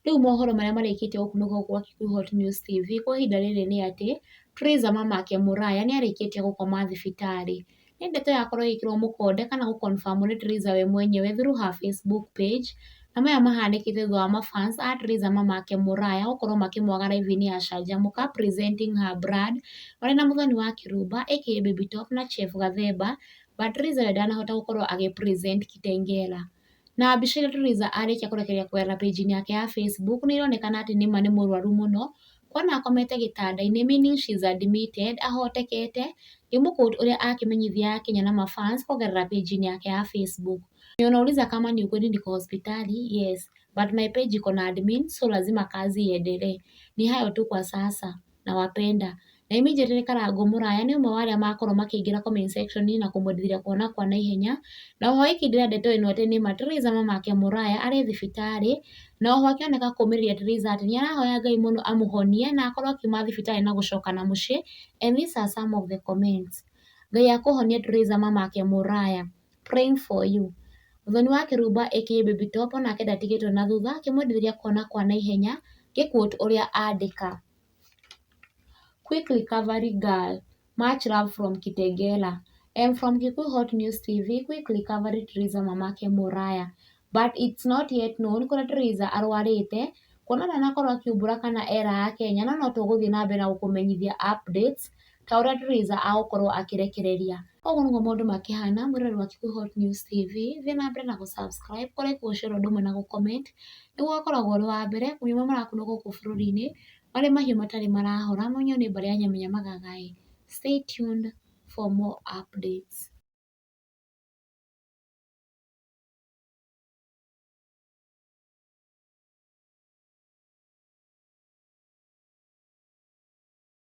Rĩu mohoro marĩa marĩkĩtie gũkunũka gũkũ gwa Kikuyu Hot News TV kwa ihinda rĩrĩ nĩ atĩ, Prayzah mamake Muraya nĩ arĩkĩtie gũkoma thibitarĩ. Nĩ ndeto yakorwo ĩgĩkĩrwo mũkonde kana gũ confirm nĩ Prayzah we mwenyewe through her Facebook page, na maya mahanĩkĩte thutha wa ma fans a Prayzah mamake Muraya gũkorwo makĩmwaga live-inĩ ya Canjamũka presenting her brand marĩ na Mũthoni wa Kĩrumba aka Baby Top na Chef Gathemba but Prayzah we ndanahota gũkorwo agĩ present Kitengela. Na mbica ĩrĩa Theresa arĩkia kũrekereria kũgerera page -inĩ yake ya Facebook nĩ ĩronekana atĩ nĩ ma nĩ mũrwaru mũno, kuona akomete gĩtanda-inĩ meaning she is admitted ahotekete, nĩ mũ quote ũrĩa akĩmenyithia akenya na ma fans kũgerera page -inĩ yake ya Facebook. Mwenye anauliza kama ni ukweli niko hospitali, yes, but my page iko na admin so lazima kazi iendelee. Ni hayo tu kwa sasa. na Wapenda. Na immediately nĩ Karango mũraya nĩ ũmwe wa arĩa makorwo makĩingĩra comment section na kũmwendithĩria kuona kwa naihenya. Na oho ĩkĩndĩra ndeto ĩno atĩ nĩma Teresa mamake mũraya arĩ thibitarĩ, na oho akĩoneka kũmĩrĩria Teresa atĩ nĩ arahoya Ngai mũno amũhonie na akorwo akiuma thibitarĩ na gũcoka na mũciĩ and these are some of the comments. Ngai akũhonie Teresa mamake mũraya. praying for you. Mũthoni wa kĩrumba aka Baby Top o nake ndatigĩtwo na thutha akĩmwendithĩria kwana kwa na ihenya ngĩ quote ũrĩa andĩka, Quick recovery girl, much love from Kitengela, am from Kikuyu Hot News TV, quick recovery Theresa mamake Muraya, but it's not yet known kũrĩa Theresa arwarĩte kuona ndanakorwo akiumbũra kana eraha Akenya no notũgũthiĩ na mbere na gũkũmenyithia updates ta ũrĩa Teresa agũkorwo akĩrekereria. Ũguo nĩguo maũndũ makĩhana mwena wa Kikuyu Hot News TV, thiĩ na mbere na gũ subscribe, kũ like, gũ share ũndũ ũmwe na gũ comment nĩguo ũgakoragwo ũrĩ wa mbere kũmenya marĩa marakunwo gũkũ bũrũri-inĩ, marĩa mahiũ matarĩ marahora mũno nĩ mbarĩ ya Nyamenya Magaga ĩ. Stay tuned for more updates.